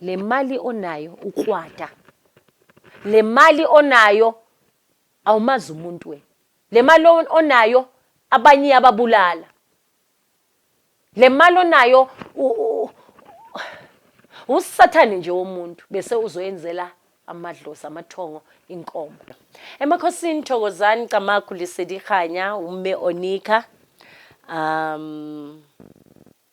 le mali onayo ukwata le mali onayo awumazi umuntu wena le mali onayo abanye iyababulala le mali onayo usathane nje womuntu bese uzoyenzela amadlozi amathongo inkomo emakhosini thokozani camagu lisedihanya umme onika um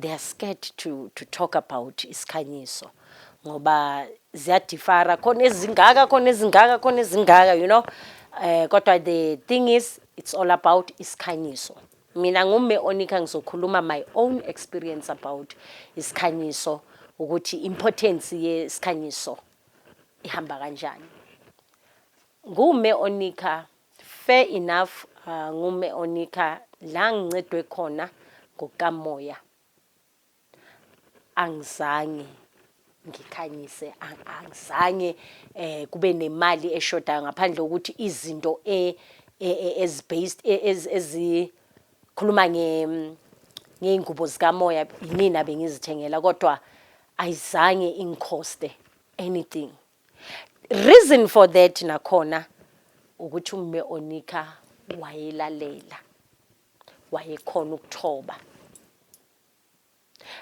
they are scared to, to talk about isikhanyiso ngoba ziyadifara khona ezingaka khona ezingaka khona ezingaka you know eh kodwa the thing is it's all about isikhanyiso mina ngume onika ngizokhuluma my own experience about isikhanyiso ukuthi importance yesikhanyiso ihamba kanjani ngume onika Fair enough ngu Me Onika la ngincedwe khona ngokuka Moya angizange ngikhanyise angizange eh kube nemali eshodayo ngaphandle ukuthi izinto e, e, e as based e, as ezi khuluma nge ngeingubo zika Moya yimina bengizithengela kodwa ayizange ingikhoste anything reason for that nakhona ukuthi umme onika wayelalela wayekhona ukuthoba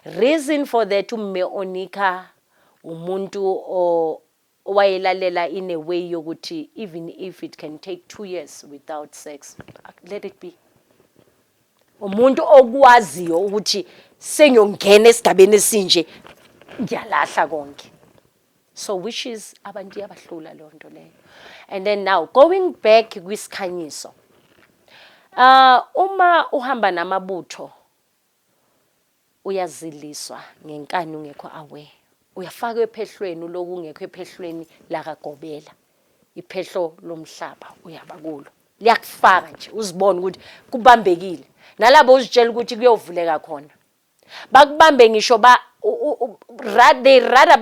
reason for that umme onika umuntu owayelalela in a way yokuthi even if it can take two years without sex let it be umuntu okwaziyo ukuthi sengiyongena esigabeni esinje ngiyalahla konke so which is abantu iyabahlula leyo nto leyo and then now going back kwisikhanyiso uh uma uhamba namabutho uyaziliswa ngenkani ungekho aware uyafaka ephehlweni lokungekho ephehlweni lakagobela iphehlo lomhlaba uyaba kulo liyakufaka nje uzibone ukuthi kubambekile nalabo uzitshela ukuthi kuyovuleka khona Bakubambe ngisho ba they rather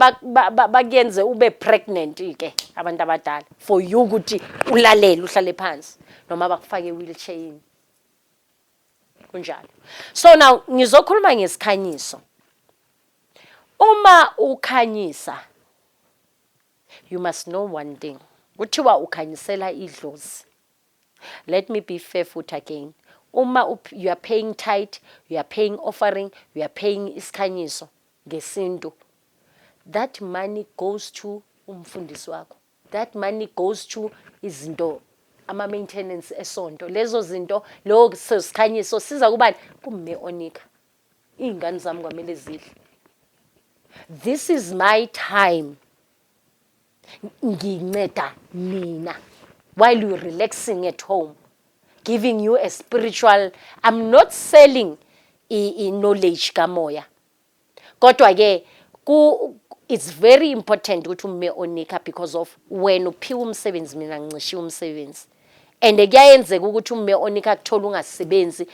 bakuyenze ube pregnant ke abantu abadala for you ukuthi ulalele uhlale phansi noma bakufake wheelchair yini. Kunjalo. So now ngizokhuluma ngesikhanyiso. Uma ukhanyisa you must know one thing. Kuthiwa ukhanyisela idlozi. Let me be fair futhi again. Uma u, you are paying tithe, you are paying offering, you are paying isikhanyiso ngesintu, that money goes to umfundisi wakho. That money goes to izinto ama maintenance esonto. Lezo zinto lowo sikhanyiso siza kubani? Kumme onika. Izingane zami kwamele zidle. This is my time. nginceda nina while you relaxing at home giving you a spiritual i'm not selling i-knowledge kamoya kodwa-ke it's very important ukuthi umme onika because of wena uphiwa umsebenzi mina ngincishiwe umsebenzi and kuyayenzeka ukuthi ume onika akuthola ungasebenzi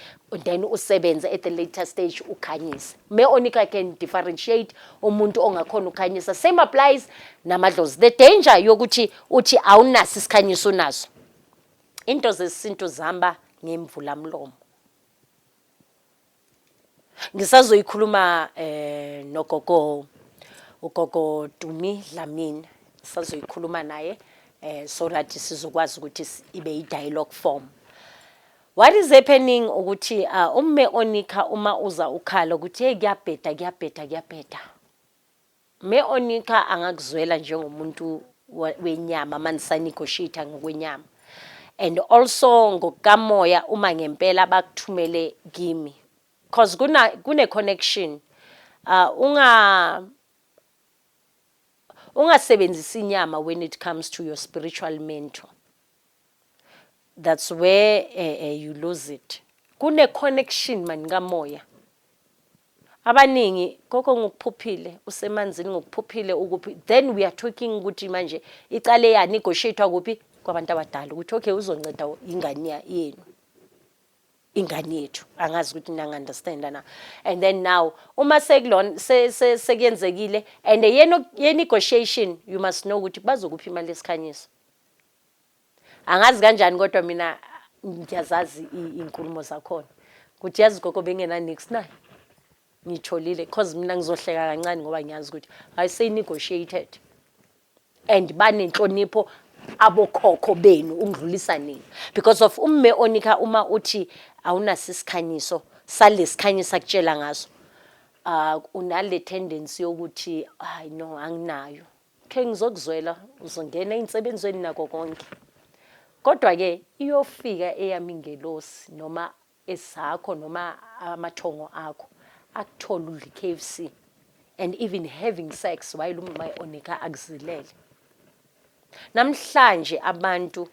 then usebenze at the later stage ukhanyise me onika can differentiate umuntu ongakhona ukhanyisa same applies namadlozi the danger yokuthi uthi awunaso isikhanyiso unaso into zesintu zihamba ngemvula mlomo Ngisazoyikhuluma eh nogogo ugogo Dumi Dlamini sazoyikhuluma naye eh so that sizokwazi ukuthi ibe i dialogue form. What is happening ukuthi uh, umme onikha uma uza ukhala ukuthi hey kuyabheda kuyabheda kuyabheda. Me, Onixa angakuzwela njengomuntu wenyama manisa negotiate ngokwenyama and also ngokukamoya uma ngempela bakuthumele kimi cause kuna kune connection uh, unga ungasebenzisi inyama when it comes to your spiritual mentor That's where uh, uh, you lose it. Kune connection mani kamoya. Abaningi koko ngokuphuphile usemanzini ngokuphuphile ukuphi then we are talking ukuthi manje icale ya negotiate kuphi kwabantu abadala ukuthi okay uzonceda ingane yenu. ingane yethu angazi ukuthi nanga understand na and then now uma sekulona sekuyenzekile and ye negotiation you must know ukuthi bazokuphi imali yesikhanyiso angazi kanjani kodwa mina ngiyazazi iy'nkulumo zakhona ukuthi yazi gogo bengenanix naye ngitholile cause mina ngizohleka kancane ngoba ngiyazi ukuthi i say negotiated and banenhlonipho abokhokho benu ukudlulisa nina because of umme onika uma uthi awunaso isikhanyiso salesikhanyi sakutshela ngaso uh unale tendency yokuthi hayi no anginayo Khe ngizokuzwela uzongena ey'nsebenzweni nako konke. Kodwa-ke iyofika eyami ingelosi noma ezakho noma amathongo akho akuthole udla i-KFC and even having sex while umay'onika akuzilele. Namhlanje abantu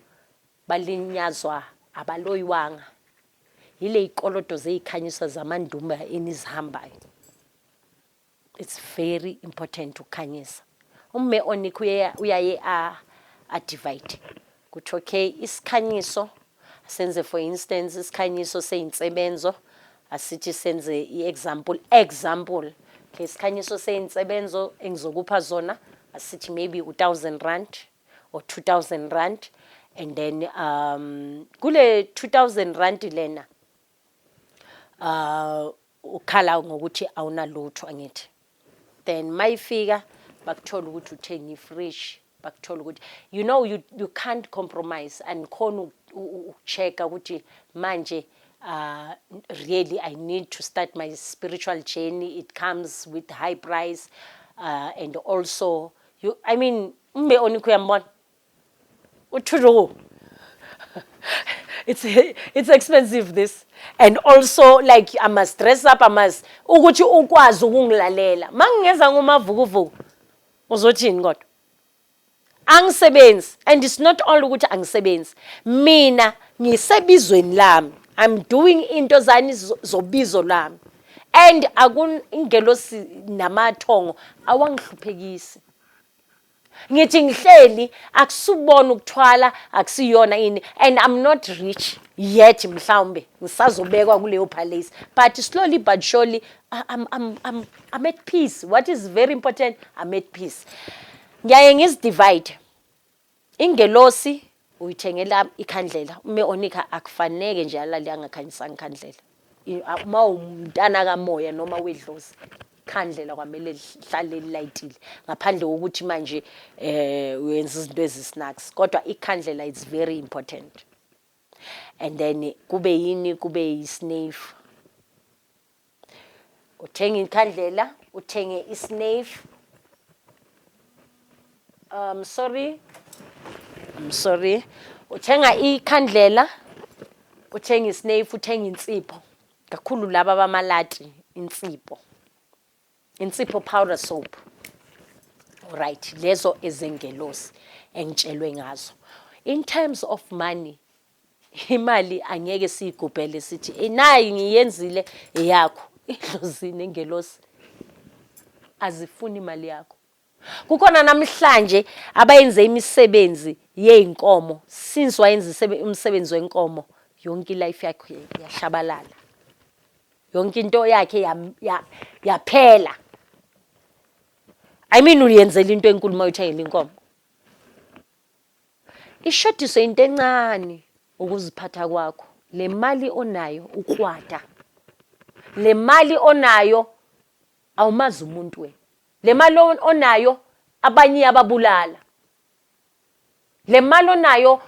balinyazwa abaloyiwanga yiley'koloto zey'khanyisa zamandumba enizihambayo. It's very important ukukhanyisa. Umme onikho uyaye a a divide. Kuthi okay isikhanyiso senze for instance isikhanyiso seyinsebenzo asithi senze i-example example okay isikhanyiso seyinsebenzo engizokupha zona asithi maybe u-1000 rand or 2000 rand and then um kule 2000 rand lena uh ukhala ngokuthi awunalutho angithi then mayifika bakuthola ukuthi uthenga ifridge bakuthola ukuthi you know you, you can't compromise andikhona ukuchecka ukuthi manje uh, really i need to start my spiritual journey it comes with high price uh, and also you, i mean umbe onikho uyambona utrue it's it's expensive this and also like i must dress up i must ukuthi ukwazi ukungilalela mangingeza ngomavukuvuku uzothini kodwa angisebenzi and it's not all ukuthi angisebenzi mina ngisebizweni lami i'm doing into zani zobizo lami and akungelosi namathongo awangihluphekisi Ngithi ngihleli akusubona ukuthwala akusiyona ini and I'm not rich yet mhlawumbe ngisazobekwa kuleyo palace but slowly but surely I'm, I'm, I'm, I'm at peace what is very important I'm at peace ngiyaye ngizidivide ingelosi uyithengela ikhandlela ume onika akufaneke nje alale angakhanyisanga ikhandlela I- a- uma umntana kamoya noma wedlozi ikhandlela kwamele lihlale lilayitile ngaphandle kokuthi manje um uyenza izinto ezisnacks kodwa ikhandlela is very important and then kube yini kube yisneyifu Uthenga inkhandlela, uthenge isnave. Um sorry. I'm sorry. Uthenga ikhandlela, uthenga isnave, uthenga insipho. Kakhulu laba bamalati insipho. Insipho powder soap. Right, lezo ezengelosi engitshelwe ngazo. In terms of money, Imali angeke siyigubhele sithi eh, nayi ngiyenzile eyakho. Idlozi nengelosi azifuni imali yakho. Kukhona namhlanje abayenze imisebenzi yezinkomo since wayenza umsebenzi wenkomo yonke life yakhe yashabalala. Yonke into yakhe yaphela. I mean uyenzela into enkulu uma uthengela inkomo. Ishodiswe into encane ukuziphatha kwakho. Le mali onayo ukwata. Le mali onayo awumazi umuntu wena. Le mali onayo abanye iyababulala. Le mali onayo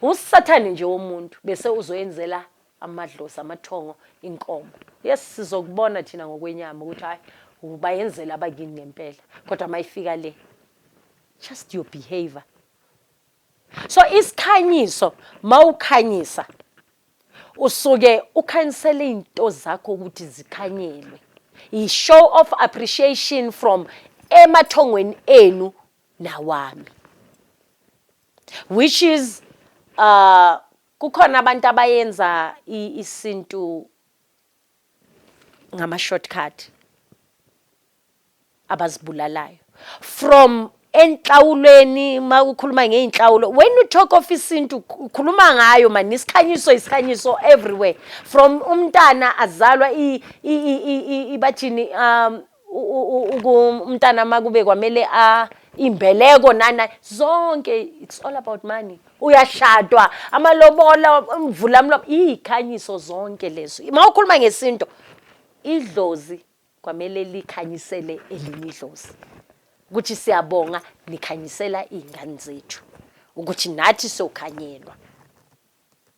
usathane nje womuntu bese uzoyenzela amadlozi amathongo inkomo yes sizokubona thina ngokwenyama ukuthi hayi ubayenzela abakini ngempela kodwa mayifika le just your behavior so isikhanyiso mawukhanyisa usuke ukhanyisela izinto zakho ukuthi zikhanyelwe i show of appreciation from emathongweni enu nawami which is uh Kukhona abantu abayenza isintu ngama shortcut abazibulalayo from enhlawulweni uma ukhuluma ngey'nhlawulo when you talk of isintu ukhuluma ngayo mani isikhanyiso isikhanyiso everywhere from umntana azalwa ibathini um umntana makube kwamele a imbeleko nani nani zonke it's all about money uyashadwa amalobola umvula mlo ikhanyiso zonke lezo uma ukhuluma ngesinto idlozi kwamele likhanyisele elinye idlozi ukuthi siyabonga nikhanyisela izingane zethu ukuthi nathi sokhanyelwa